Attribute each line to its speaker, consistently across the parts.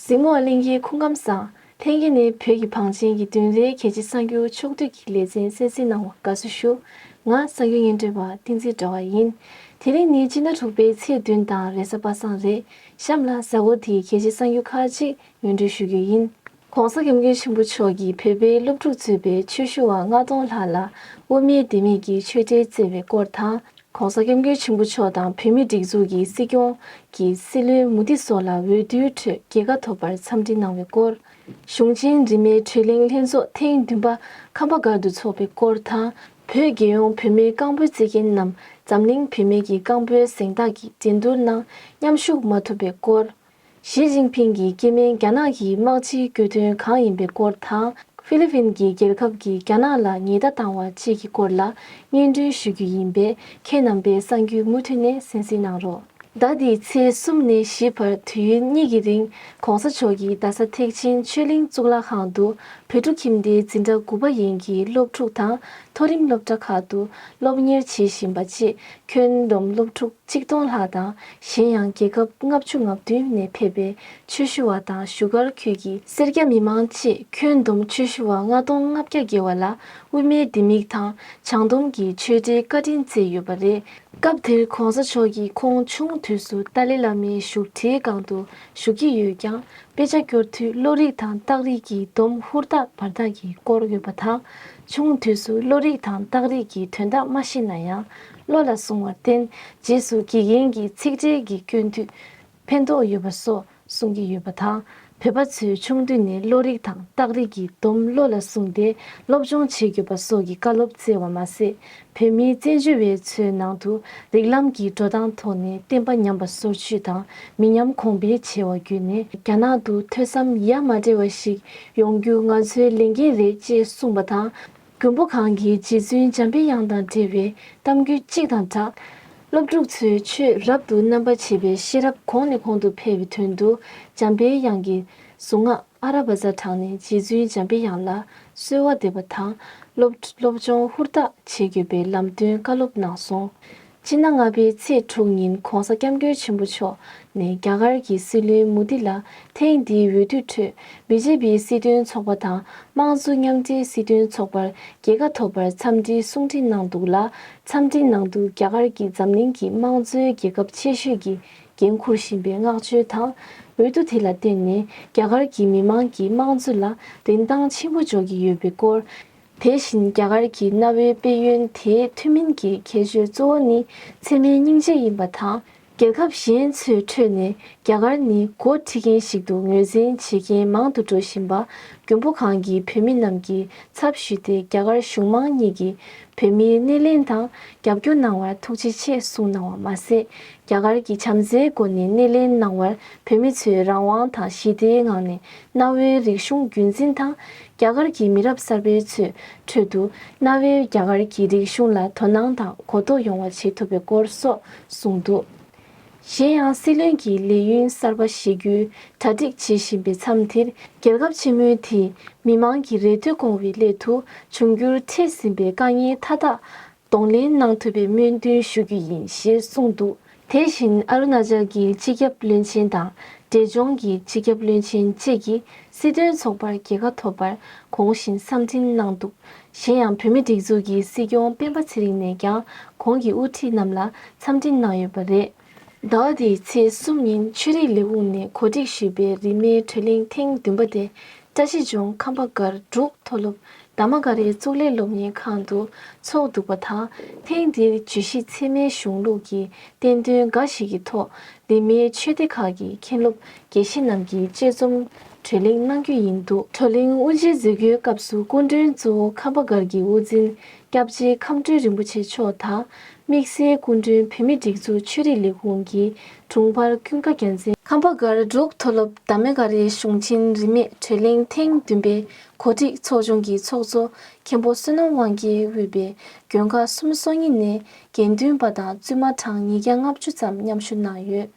Speaker 1: གཟིག་མོ་གླིང་གི་ཁུངས་ཁམས་བཟང། ཐེངས་འདི་ནི་བོད་ཀྱི་བང་ཆེན་གྱི་བདུན་རེའི་གལ་ཆེ་གསར་འགྱུར་ཕྱོགས་བསྡུས་ཀྱི་ལེ་ཚན་གསན་གཟིགས་གནང་བར་དགའ་བསུ་ཞུ། ང་གསར་འགྱུར་སྙན་སྒྲོན་པ་ཏིང་འཛིན་གྲྭ་བ་ཡིན། དེ་རིང་ནི་སྤྱི་ཟླ་དྲུག་པའི་ཚེས་བདུན་དང་རེས་གཟའ་པ་སངས་རེད། གཤམ་ལ་ཟ་ཧོར་དེའི་གལ་ཆེ་གསང་རྒྱུ་ཁག་ཅིག་ངོས་འབྲེལ་ཞུ་རྒྱུ་ཡིན། ྋགོང་ས ྋསྐྱབས་མགོན་ཆེན་པོ་མཆོག་གིས་བོད་པའི་སློབ་ཕྲུག་གཙོས་པའི་ཆོས་ཞུ་བ་ལྔ་སྟོང་ལྷག་ལ་དབུ་མའི་ལྡེ་མིག་གིས་ཆོས་འབྲེལ་བསྩལ་བའི་སྐོར་དང། ྋགོང་ས ྋསྐྱབས་མགོན་ཆེན་པོ་མཆོག་དང་བོད་མིའི་སྒྲིག་འཛུགས་ཀྱི་སྲིད་སྐྱོང་གི་སྲིད་བློན་མུ་དྷི་སོགས་ལ་འོས་བསྡུའི་ཁྲོད་རྒྱལ་ཁ་ཐོབ་པར་འཚམས་འདྲི་གནང་བའི་སྐོར། གཞུང་ཆེན་རིས་མེད་གྲོས་གླེང་ལྷན་ཚོགས་ཐེངས་བདུན་པ་ཁམས་པ་སྒར་དུ་འཚོགས་པའི་སྐོར་དང། བོད་རྒྱལ་ཡོངས་བུད་མེད་རྐང་སྤོལ་རྩིས་མཁན་རྣམས་འཛམ་གླིང་བུད་མེད་ཀྱི་རྐང་སྤོལ་གཟེངས་རྟགས་ཀྱི་འགྲན་བསྡུར་ནང་མཉམ་ཞུགས་མ་ཐུབ་པའི་སྐོར། ཞི་ཅིན་ཕིང་གི་སྐྱེས་དམན་རྒྱ་ནག་གི་དམག་སྤྱིའི་སྐྱོ་དོན་གང་ཡིན་པའི་སྐོར་དང་ཧྥི་ལི་ཕིན་གྱི་རྒྱལ་ཁབ་ཀྱིས་རྒྱ་ནག་ལ་ཉེས་བརྡ་བཏང་བ་བཅས་ཀྱི་སྐོར་ལ་སྙན་སྒྲོན་ཞུ་རྒྱུ་ཡིན་པས་ཁྱེད་རྣམ་པས་གསང་རྒྱུའི་མུ་མཐུད་ནས་གཟེངས་བསུ་གནང་རོགས། ཟླ་འདིའི་ཚེས་གསུམ་ནས་བཞི་བར་དུས་ཡུན་གཉིས་ཀྱི་རིང་གོང་ས་མཆོག་གིས་རྡ་ས་ཐེག་ཆེན་ཆོས་གླིང་གཙུག་ལག་ཁང་དུ་བོད་ཕྲུག་ཁྱིམ་སྡེའི་འཛིན་གྲྭ་དགུ་པ་ཡན་གྱི་སློབ་ཕྲུག་དང་མཐོ་རིམ་སློབ་གྲྭ་ཁག་ཏུ་སློབ་གཉེར་བྱེད་བཞིན་པ་བཅས་ཁྱོན་བསྡོམས་སློབ་ཕྲུག་གཅིག་སྟོང་ལྷག་དང་གཞན་ཡང་རྒྱལ་ཁབ་ལྔ་བཅུ་ང་བདུན་ནས་ཕེབས་པའི་ཆོས་ཞུ་བ་དང་བཞུགས་སྒར་ཁུལ་གྱི་སེར་སྐྱ་མི་མང་བཅས་ཁྱོན་བསྡོམས་ཆོས་ཞུ་བ་ལྔ་སྟོང་ལྔ་བརྒྱ་བརྒལ་བ་ལ་དབུ་མའི་ལྡེ་མིག་དང་བྱང་སྡོམ་གྱི་ཆོས་འབྲེལ་བཀའ་དྲིན་བསྩལ་ཡོད་པ་རེད། སྐབས་དེར་གོང་ས་མཆོག་གིས་ཁོང་ཆུང་དུས་སུ་ཏཱ་ལའི་བླ་མའི་བཞུགས་ཁྲིའི་སྒང་དུ་བཞུགས་ཀྱི་ཡོད་ཀྱང་དཔེ་ཆ་སྐྱོར་དུས་བློ་རིག་དང་རྟགས་རིགས་ཀྱི་སྡོམ་ཧུར་ཐག་བར་ཐག་གིས་བསྐོར་ཡོད་པ་དང། ཆུང་དུས་སུ་བློ་རིག་དང་རྟགས་རིགས་ཀྱི་དོན་དག་མ་ཤེས་ན་ཡང་བློ་ལ་བཟུང་བར་བརྟེན་རྗེས་སུ་དགེ་རྒན་གྱིས་ཚིག་འགྲེལ་གྱི་སྐྱོན་དུས། ཕན་ཐོགས་ཡོད་པ་སོགས་གསུང་གི་ཡོད་པ་དང་བོད་པ་ཚོས་ཆུང་དུས་ནས་བློ་རིག་དང་རྟགས་རིག་གི་སྡོམ་བློ་ལ་བཟུང་སྟེ་སློབ་སྦྱོང་བྱེད་དགོས་པ་སོགས་ཀྱི་བཀའ་སློབ་སྩལ་བ་མ་ཟད་བོད་མིའི་བཙན་བྱོལ་བའི་ཚོའི་ནང་དུ་རིགས་ལམ་གྱི་འགྲོ་སྟངས་ཐོག་ནས་བསྟན་པ་ཉམས་པ་སོར་ཆུད་དང་མི་ཉམས་གོང་འཕེལ་བྱས་བ་བརྒྱུད་ནས་རྒྱ་ནག་ཏུ་ཐོས་བསམ་ཡ་མ་བྲལ་བ་ཞིག་ཡོང་རྒྱུ་ང་ཚོའི་ལས་འགན་རེད་ཅེས་གསུངས་པ་དང། མགོན་པོ་གང་གི་རྗེ་བཙུན་འཇམ་པའི་དབྱངས་དང་འབྲེལ་བའི་གཏམ་རྒྱུད་གཅིག་དང་སྦྲགས། སློབ་ཕྲུག་ཚོའི་ཆོས་རབ་ཏུ་རྣམ་པར་འབྱེད་པའི་ཤེས་རབ་གོང་ནས་གོང་དུ་འཕེལ་བའི་དོན་དུ་འཇམ་པའི་དབྱངས་ཀྱི་གཟུངས་སྔགས་ཨ་ར་བ་ཛ་དྲངས་ནས་རྗེ་བཙུན་འཇམ་པའི་དབྱངས་ལ་གསོལ་བ་འདེབས་པ་དང་སློབ་སློབ་སྦྱོང་ཧུར་ཐག་བྱེད་དགོས་པའི་ལམ་སྟོན་བཀའ་སློབ་གནང་སོང། སྤྱིར་ན་ལྔ་པའི་ཚེས་དྲུག་ཉིན ྋགོང་ས་སྐྱབས་མགོན་ཆེན་པོ་མཆོག་ནས་རྒྱ་གར་གྱི་སྲིད་བློན་མུ་དྷི་ལ་ཐེངས་འདིའི་འོས་བསྡུ་ཁྲོད་བི་ཇེ་པི་སྲིད་དོན་ཚོགས་པ་དང་དམངས་གཙོ་མཉམ་འབྲེལ་སྲིད་དོན་ཚོགས་པར་རྒྱལ་ཁ་ཐོབ་པར་འཚམས་འདྲིའི་གསུང་འཕྲིན་གནང་འདུག་ལ་འཚམས་འདྲིའི་ནང་དུ་རྒྱ་གར་གྱིས་འཛམ་གླིང་གི་དམངས་གཙོའི་རྒྱལ་ཁབ་ཆེ་ཤོས་ཀྱི་འགན་འཁུར་བཞིན་པའི་མངགས་བཅོལ་དང་འོས་བསྡུ་དེ་ལ་བརྟེན་ནས་རྒྱ་གར་གྱི་མི་དམངས་ཀྱི་དམངས་གཙོ་ལ་རིན་ཐང་ཆེན་པོ་འཇོག་གི་ཡོད་པའི་སྐོར། དེ་བཞིན་རྒྱ་གར་གྱི་གནའ་བོའི་དཔལ་ཡོན་དེའི་ཐུན་མིན་གྱི་ཁྱད་ཆོས་གཙོ་བོ་ནི་ཚད་མའི་སྙིང་རྗེ་ཡིན་པ་དང་རྒྱལ་ཁབ་གཞན་ཚོའི་ཁྲོད་ནས་རྒྱ་གར་ནི་མགོ་ཁྲིད་མཁན་ཞིག་ཏུ་ངོས་འཛིན་བྱེད་མཁན་མང་དུ་འགྲོ་བཞིན་པ་རྒྱུན་བུ་གང་གི་བོད་མི་རྣམས་ཀྱི་ཚབ་ཞུས་ཏེ་རྒྱ་གར་གཞུང་མང་གཉིས་ཀྱི་བོད་མིའི་སྣེ་ལེན་དང་རྒྱབ་སྐྱོར་གནང་བར་ཐུགས་རྗེ་ཆེ་གསུངས་གནང་བ་མ་ཟད་རྒྱ་གར་གྱི་བྱམས་བརྩེའི་སྒོ་ནས་སྣེ་ལེན་གནང་བར་བོད་མི་ཚོས་རང་དབང་དང་ཞི་བདེའི་ངང་ནས་གནའ་བོའི་རིག་གཞུང་རྒྱུན་འཛིན་དང་རྒྱ་གར་གྱི་མི་རབས་གསར་པའི་ཚོའི་ཁྲོད་དུ་གནའ་བོའི་རྒྱ་གར་གྱི་རིག་གཞུང་ལ་དོ་སྣང་དང་གོ་རྟོགས་ཡོང་བ་བྱེད་ཐུབ་པའི་སྐོར་སོགས་གསུངས་འདུག་གཞན་ཡང་སྲིད་བློན་གྱིས་ལས་ཡུན་གསར་པ་བཞེས་རྒྱུའི་གྲ་སྒྲིག་བྱེད་བཞིན་པའི་མཚམས་འདིར་རྒྱལ་ཁབ་ཆེན་མོའི་དེའི་མི་དམངས་ཀྱི་རེ་འདོད་སྐོང་བའི་སླད་དུ་འབྱུང་འགྱུར་འཕྲད་ཟིན་པའི་དཀའ་ངལ་མཐའ་དག་གདོང་ལེན་གནང་ཐུབ་པའི་སྨོན་འདུན་ཞུ་རྒྱུ་ཡིན་ཞེས་གསུངས་འདུག་དེ་བཞིན་ཨ་རུ་ན་ཅལ་གྱི་སྤྱི་ཁྱབ་བློན་ཆེན་དང་འབྲས་ལྗོངས་ཀྱི་སྤྱི་ཁྱབ་བློན་ཆེན་བཅས་ཀྱིས་སྲིད་དོན་ཚོགས་པར་རྒྱལ་ཁ་ཐོབ་པར་གོང་བཞིན་བསམ་འདྲིན་གནང་འདུག་གཞན་ཡང་བོད་མི་སྒྲིག་འཛུགས་ཀྱི་སྲིད་སྐྱོང་སྤེན་པ་ཚེ་རིང་ནས་ཀྱང་གོང་གི་དབུ་ཁྲིད་རྣམས་ལ་འཚམས་འདྲི་གནང་ཡོད་པ་རེད། ཟླ་བ་འདིའི་ཚེས་གསུམ་ཉིན་ཆོས་རིག་ལས་ཁུངས་ནས་གོ་སྒྲིག་ཞུས་པའི་རིས་མེད་གྲོལ་གླིང་ཐེངས་བདུན་པ་དེ་བཀྲ་ཤིས་ལྗོངས་ཁམས་པ་སྒར་འབྲུག་མཐོ་སློབ་དར་མ་འགའ་རེའི་གཙུག་ལས་སློབ་གཉེར་ཁང་དུ་འཚོགས་འདུག་པ་དང་ཐེངས་འདིར་བརྗོད་གཞི་ཚད་མའི་གཞུང་ལུགས་ཀྱི་བསྟན་དོན་འགའ་ཞིག་གི་ཐོག་རིས་མེད་ཆོས་སྡེ་ཁག་གི་མཁན་སློབ་དགེ་བཤེས་རྣམས་ཀྱིས་དཔྱད་རྩོམ་གྲོལ་གླེང་གནང་རྒྱུ་ཡིན་འདུག་གྲོལ་གླེང་དབུ་འབྱེད་མཛད་སྒོའི་སྐབས་སུ་སྐུ་མགྲོན་གཙོ་བོ་ཁམས་པ་སྒར་གྱི་དབུ་འཛིན་སྐྱབས་རྗེ་ཁམས་སྤྲུལ་རིན་པོ་ཆེ་མཆོག་དང་དམིགས་བསལ་སྐུ་མགྲོན་བོད་མི་སྒྲིག་འཛུགས་ཆོས་རིག་ལས་ཁུངས་ཀྱི་དྲུང་འཕར་ཀུན་དགའ་རྒྱལ་མཚན། ཁམས་པ་སྒར་འབྲུག་མཐོ་སློབ་དར་མ་ཀ་རའི་གཞུང་ཆེན་རིས་མེད་གྲོལ་གླིང་ཐེངས་བདུན་པའི་གོ་སྒྲིག་ཚོགས་ཆུང་གི་ཚོགས་གཙོ་མཁན་པོ་བསོད་ནམས་དབང་རྒྱལ་དབུས་པའི་དགོན་ཁག་གསུམ་སོ་གཉིས་ནས་དགེ་འདུན་པ་དང་བཙུན་མ་གྲངས་ཉིས་བརྒྱ་ལྔ་བཅུ་ཙམ་མཉམ་ཞུགས་གནང་ཡོད།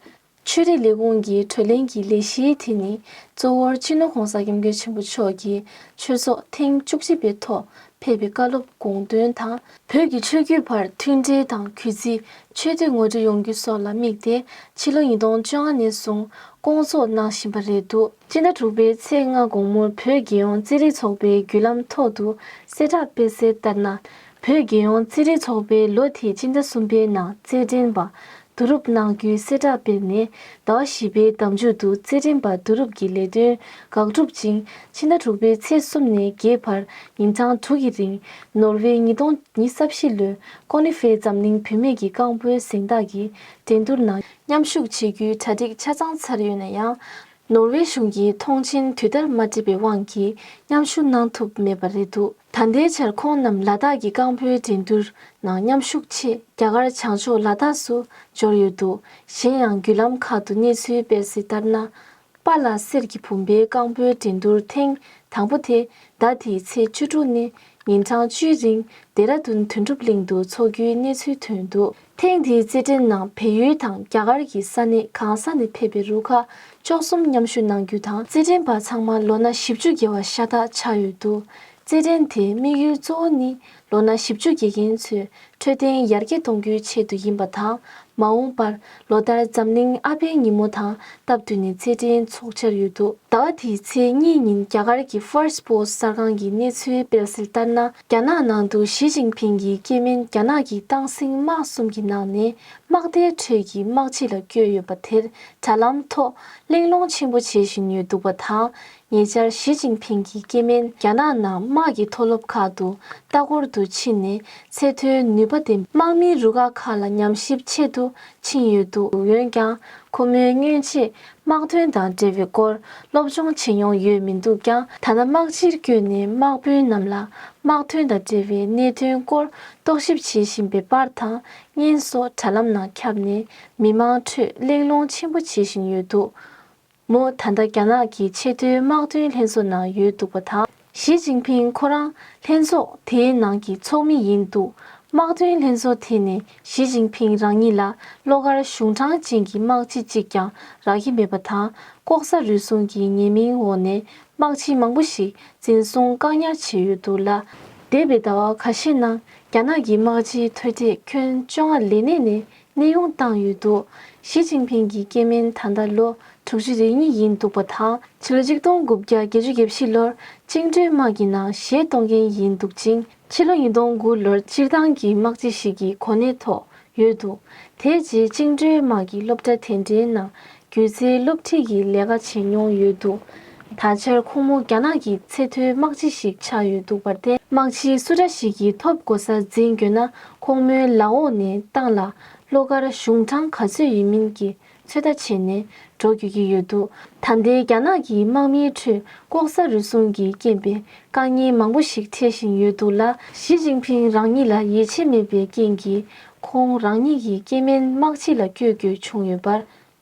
Speaker 1: ཆོས་རིག་ལས་ཁུངས་ཀྱི་གྲོས་གླེང་གི་ལས་གཞིའི་དེ་ནི་གཙོ་བོར་སྤྱི་ནོར ྋགོང་ས ྋསྐྱབས་མགོན་ཆེན་པོ་མཆོག་གི་ཆོས་ཚོགས་ཐེངས་བཅུ་གཅིག་པའི་ཐོག་ཕེབས་པའི་བཀའ་སློབ་དགོངས་དོན་དང། བོད་ཀྱི་ཆོས་བརྒྱུད་བར་མཐུན་སྒྲིལ་དང་གུས་བརྩི་ཆོས་དད་ངོ་སྤྲོད་ཡོང་རྒྱུ་སོགས་ལ་དམིགས་ཏེ་ཕྱི་ལོ་ཉིས་སྟོང་བཅོ་ལྔ་ནས་བཟུང་བསྐོང་ཚོགས་གནང་བཞིན་པ་རེད་འདུག། སྤྱི་ཟླ་དྲུག་པའི་ཚེས་ལྔ་དགོང་མོར་བོད་རྒྱལ་ཡོངས་རྩེད་རིགས་ཚོགས་པའི་བརྒྱུད་ལམ་ཐོག་ཏུ་གསལ་བསྒྲགས་སྤེལ་གསལ་ལྟར་ན། བོད་རྒྱལ་ཡོངས་རྩེད་རིགས་ཚོགས་པའི་ལོ་དེའི་སྤྱི་ཟླ་གསུམ་པའི་ནང་རྩེད་འགྲན་པ་བསྡུ་རུབ་གནང་རྒྱུའི་གསལ་བསྒྲགས་སྤེལ་ནས་ཟླ་བ་བཞི་པའི་ཟླ་མཇུག་ཏུ་རྩེད་འགྲན་པ་བསྡུ་རུབ་ཀྱི་ལས་དོན་འགག་གྲུབ་ཅིང་ཕྱི་ཟླ་དྲུག་པའི་ཚེས་གསུམ་ནས་བརྒྱད་བར་ཉིན་གྲངས་དྲུག་གི་རིང་ནོར་ཝེ་ཉིས་སྟོང་ཉིས་གསབ་བཞི་ལོའི་ཀོ་ནི་ཧྥེ་འཛམ་གླིང་བུད་མེད་ཀྱི་རྐང་སྤོལ་གཟེངས་རྟགས་ཀྱི་འགྲན་བསྡུར་ནང་མཉམ་ཞུགས་བྱེད་རྒྱུའི་གྲ་སྒྲིག་ཆ་ཚང་ཚར་ཡོད་ན་ཡང། ནོར་ཝེ་གཞུང་གིས་མཐོང་ཆེན་དུས་ལྟར་མ་འགྲིབ་པའི་དབང་གིས་མཉམ་ཞུགས་གནང་ཐུབ་མེད་པ་རེད་འདུག་ད་ལྟའི་ཆར་ཁོང་རྣམས་ལ་དྭགས་ཀྱི་རྐང་སྤོལ་འགྲན་བསྡུར་ནང་མཉམ་ཞུགས་ཆེད་རྒྱ་གར་བྱང་ཕྱོགས་ལ་དྭགས་སུ་འབྱོར་ཡོད་འདུག་གཞན་ཡང་བརྒྱུད་ལམ་ཁག་ཏུ་གནས་ཚུལ་སྤེལ་གསལ་ལྟར་ན། པཱ་ལ་སེར་གྱི་བུམ་པའི་རྐང་སྤོལ་འགྲན་བསྡུར་ཐེངས་དང་པོ་དེ་ཟླ་དེའི་ཚེས་བཅུ་དྲུག་ནས་ཉིན་གྲངས་བཅུའི་རིང་ལྡེ་ར་ལྡུན་དོན་གྲུབ་གླིང་དུ་འཚོགས་རྒྱུའི་གནས་ཚུལ་ཐོན་འདུག་ཐེངས་འདིའི་རྩེད་འགྲན་ནང་བལ་ཡུལ་དང་རྒྱ་གར་གྱི་ས་གནས་གང་ས་ནས་ཕེབས་པའི་རུ་ཁག་བཅུ་གསུམ་མཉམ་ཞུགས་གནང་རྒྱུ་དང་རྩེད་འགྲན་པ་ཚང་མ་ལོ་ན་བཞི་བཅུ་བརྒལ་བ་ཤ་སྟག་ཆགས་ཡོད་འདུག་རྩེད་འགྲན་དེའི་དམིགས་ཡུལ་གཙོ་བོ་ནི་ལོ་ན་བཞི་བཅུ་བརྒལ་མཁན་ཚོའི་འཕྲོད་བསྟེན་ཡར་རྒྱས་གཏོང་རྒྱུའི་ཆེད་དུ་ཡིན་པ་དང་མ་འོངས་པར་ལོ་ལྟར་འཛམ་གླིང་ཨ་ཕའི་ཉིན་མོ་དང་སྟབས་བསྟུན་ནས་རྩེད་འགྲན་འཚོགས་འཆར་ཡོད་འདུག་ཟླ་བ་དེའི་ཚེས་གཉིས་ཉིན་རྒྱ་གར་གྱི First Post གསར་ཁང་གིས་གནས་ཚུལ་སྤེལ་གསལ་ལྟར་ན་རྒྱ་ནག་ནང་དུ་ཞི་ཅིང་ཕིང་གི་སྐྱེས་དམན་རྒྱ་ནག་གི་ཏང་སྲིང་དམག་གསུམ་གྱི་ནང་ནས་དམག་སྡེའི་ཁྲོད་ཀྱི་དམག་སྤྱི་ལ་བསྐྱོད་ཡོད་པ་དེར་དྲ་ལམ་ཐོག་གླེང་སློང་ཆེན་པོ་བྱེད་བཞིན་ཡོད་འདུག་པ་དང། ཉེ་ཆར་ཞི་ཅིན་ཕིང་གིས་སྐྱེ་དམན་རྒྱ་ནག་ནང་དམག་གི་མཐོ་སློབ་ཁག་ཏུ་ལྟ་སྐོར་དུ་ཕྱིན་ནས་ཚད་མཐོའི་ནུས་པ་དེ་དམག་མིའི་རུ་ཁག་ཁག་ལ་ཉམས་ཞིབ་ཆེད་དུ་ཕྱིན་ཡོད་འདུག་འོན་ཀྱང་ཁོ་མོའི་སྔོན་ཆད་དམག་དོན་དང་འབྲེལ་བའི་སྐོར་སློབ་སྦྱོང་བྱེད་མྱོང་ཡོད་མི་འདུག་ཀྱང་ཐ་ན་དམག་སྤྱིར་བསྐྱོད་ནས་དམག་དཔོན་རྣམས་ལ་དམག་དོན་དང་འབྲེལ་བའི་གནད་དོན་སྐོར་རྟོག་ཞིབ་བྱེད་བཞིན་པའི་པར་དང་བརྙན་སོགས་དྲ་ལམ་ནང་ཁྱབ་ནས་མི་མང་ཁྲོད་གླེང་སློང་ཆེན་པོ་བྱེད་བཞིན་ཡོད་འདུག། མོ་ད་ལྟ་རྒྱ་ནག་གི་ཆེས་མཐོའི་དམག་དོན་ལྷན་ཚོགས་ནང་ཡོད་འདུག་པ་དང་ཞི་ཅིང་ཕིང་ཁོ་རང་ལྷན་ཚོགས་དེའི་ནང་གི་ཚོགས་མི་ཡིན་འདུག་དམག་དོན་ལྷན་ཚོགས་དེ་ནས་ཞི་ཅིང་ཕིང་རང་ཉིད་ལ་བློ་དཀར་གཞུང་དྲང་ཅན་གྱི་དམག་སྤྱི་གཅིག་ཀྱང་རག་གི་མེད་པ་དང་ལྐོག་ཟ་རུལ་སུངས་ཀྱི་ཉེས་མིང་འོག་ནས་དམག་སྤྱི་མང་པོ་ཞིག་འཛིན་བཟུང་བཀག་ཉར་བྱས་ཡོད་འདུག་ལ། འདས་པའི་ཟླ་བ་ག་ཤས་ནང་རྒྱ་ནག་གི་དམག་སྤྱིའི་མཐོ་གྲས་ཁྱོན་བཅོ་ལྔ་ལས་གནས་ནས་གནས་དབྱུང་བཏང་ཡོད་འདུག་ཞི་ཅིན་ཕིང་གི་སྐྱེས་དམན་ད་ལྟ་ལོ་དྲུག་ཅུ་རེ་གཉིས་ཡིན་འདུག་པ་དང་ཕྱི་ལོ་གཅིག་སྟོང་དགུ་བརྒྱ་བརྒྱད་ཅུ་བརྒྱད་བཞི་ལོར་བཅིངས་འགྲོལ་དམག་གི་ནང་གཞས་གཏོང་མཁན་ཡིན་འདུག་ཅིང་ཕྱི་ལོ་ཉིས་སྟོང་དགུ་ལོར་སྤྱིར་བཏང་གི་དམག་སྤྱི་ཞིག་གི་གོ་གནས་ཐོག་ཡོད་འདུག་དེའི་རྗེས་བཅིངས་འགྲོལ་དམག་གི་སློབ་གྲྭ་དེ་འདྲའི་ནང་སྒྱུ་རྩལ་སློབ་ཁྲིད་ཀྱི་ལས་ཀ་བྱེད་མྱོང་ཡོད་འདུག་ད་ཆར་ཁོང་མོ་རྒྱ་ནག་གི་ཚད་མཐོའི་དམག་སྤྱི་ཞིག་ཆགས་ཡོད་འདུག་པར་བརྟེན་དམག་སྤྱི་སུ་འདྲ་ཞིག་གིས་ཐོབ་གོ་ས་འཛིན་འགྱོད་ན་ཁོང་མོའི་ལག་འོག་ནས་ཏང་ལ་བློ་དཀར་གཞུང་དྲང་ག་ཚོད་ཡིན་མིན་གྱི་ཚོད་ལྟ་བྱས་ནས་འགྲོ་དགོས་ཀྱི་ཡོད་འདུག་ད་ལྟའི་རྒྱ་ནག་གི་དམག་མིའི་ཁྲོད་ལྐོག་ཟ་རུལ་སུངས་ཀྱི་རྐྱེན་པས་དཀའ་ངལ་མང་པོ་ཞིག་འཕྲད་བཞིན་ཡོད་འདུག་ལ། ཞི་ཅིང་ཕིང་རང་ཉིད་ལ་ཡིད་ཆེས་མེད་པའི་རྐྱེན་གྱིས་ཁོང་རང་ཉིད་ཀྱིས་སྐྱེས་དམན་དམག་སྤྱི་ལ་བསྐྱོད་དགོས་བྱུང་ཡོད་པར་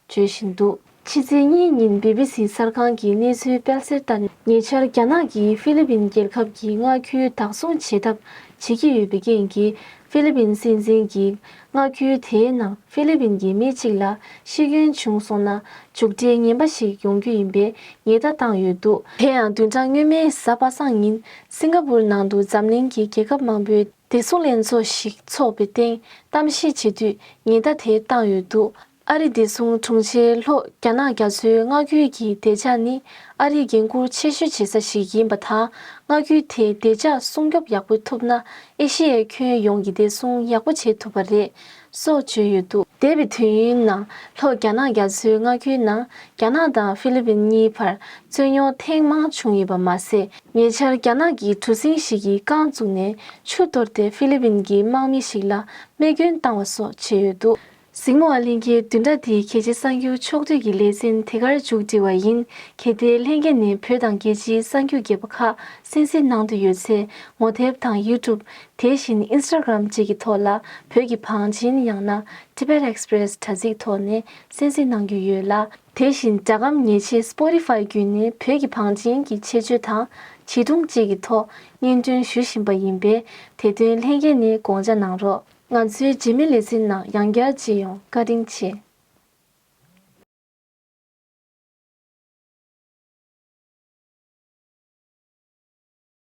Speaker 1: བརྗོད་བཞིན་འདུག། ཕྱི་ཚེས་གཉིས་ཉིན་བྷི་བྷི་སི་གསར་ཁང་གི་གནས་ཚུལ་སྤེལ་གསལ་ལྟར་ཉེ་ཆར་རྒྱ་ནག་གིས་ཧྥི་ལི་པིན་རྒྱལ་ཁབ་ཀྱི་མངའ་ཁུལ་བདག་བཟུང་བྱེད་ཐབས་བྱེད་ཀྱི་ཡོད་པའི་རྐྱེན་གྱིས་ཧྥི་ལི་པིན་སྲིད་འཛིན་གྱིས་མངའ་ཁུལ་དེའི་ནང་ཧྥི་ལི་པིན་གྱི་མི་གཅིག་ལ་ཤི་སྐྱོན་བྱུང་སོང་ན་མཇུག་འབྲས་ངན་པ་ཞིག་ཡོང་རྒྱུ་ཡིན་པའི་ཉེས་བརྡ་བཏང་ཡོད་འདུག། དེ་ཡང་བདུན་ཕྲག་སྔོན་མའི་གཟའ་པ་སངས་ཉིན་སིང་ག་པུར་ནང་དུ་འཛམ་གླིང་གི་རྒྱལ་ཁབ་མང་པོའི་དེ་ཚོ་ལས་ཚོགས་ཤིག་ཚོགས་པའི་སྟེང་གཏམ་བཤད་བྱེད་དུས་ཉེན་བརྡ་དེ་བཏང་ཡོད་འདུག་ཨ་རིས་བདེ་སྲུང་དྲུང་ཆེ་ལྷོ་རྒྱ་ནག་རྒྱ་མཚོའི་མངའ་ཁུལ་གྱི་བདེ་འཇགས་ནི་ཨ་རིས་འགན་འཁུར་ཆེ་ཤོས་བྱེད་ས་ཞིག་ཡིན་པ་དང་མངའ་ཁུལ་དེ་བདེ་འཇགས་སྲུང་སྐྱོབ་ཡག་པོ་ཐུབ་ན་ཨེ་ཤེ་ཡའི་ཁྱོན་ཡོངས་ཀྱི་བདེ་སྲུང་ཡག་པོ་བྱེད་ཐུབ་པ་རེད་སོགས་བརྗོད་ཡོད་འདུག། འདས་པའི་དུས་ཡུན་ནང་ལྷོ་རྒྱ་ནག་རྒྱ་མཚོའི་མངའ་ཁུལ་ནང་རྒྱ་ནག་དང་ཧྥི་ལི་པིན་གཉིས་བར་རྩོད་རྙོག་ཐེངས་མང་བྱུང་ཡོད་པ་མ་ཟད། ཉེ་ཆར་རྒྱ་ནག་གི་གྲུ་གཟིངས་ཤིག་གིས་རྐང་བཙུགས་ནས་ཆུ་གཏོར་ཏེ་ཧྥི་ལི་པིན་གྱི་དམག་མི་ཞིག་ལ་རྨས་སྐྱོན་བཏང་བ་སོགས་བྱས་ཡོད་འདུག། གཟིགས་མོ་བ་ལྷན་རྒྱས་བསྡུས་གྲྭ་དེའི་གལ་ཆེ་གསར་འགྱུར་ཕྱོགས་བསྡུས་ཀྱི་ལེ་ཚན་དེ་གར་མཇུག་སྒྲིལ་བ་ཡིན་གལ་ཏེ་ལྷན་རྒྱས་ནས་བོད་དང་རྒྱལ་སྤྱིའི་གསར་འགྱུར་རྒྱས་པ་ཁག་གསན་གཟིགས་གནང་འདོད་ཡོད་ཚེ་ངོ་དེབ་དང YouTube དེ་བཞིན Instagram བཅས་ཀྱི་ཐོག་ལ་བོད་ཀྱི་བང་ཆེན་ཡང་ན Tibet Express དྲ་ཚིགས་ཐོག་ནས་གསན་གཟིགས་གནང་རྒྱུ་ཡོད་ལ། དེ་བཞིན་སྒྲ་སྒམ་ཉེས་ཆད Spotify བརྒྱུད་ནས་བོད་ཀྱི་བང་ཆེན་གྱི་ཆེད་སྤྱོད་དང་བྱིས་སྒྲུང་བཅས་ཀྱི་ཐོག་སྙན་སྒྲོན་ཞུ་བཞིན་པ་ཡིན་པས་དེ་དོན་ལྷན་རྒྱས་ནས་དགོངས་འཇགས་གནང་རོགས། ང་ཚོའི་རྗེས་མའི་ལེ་ཚན་ནང་ཡང་བསྐྱར་མཇལ་ཡོང་བཀའ་དྲིན་ཆེ།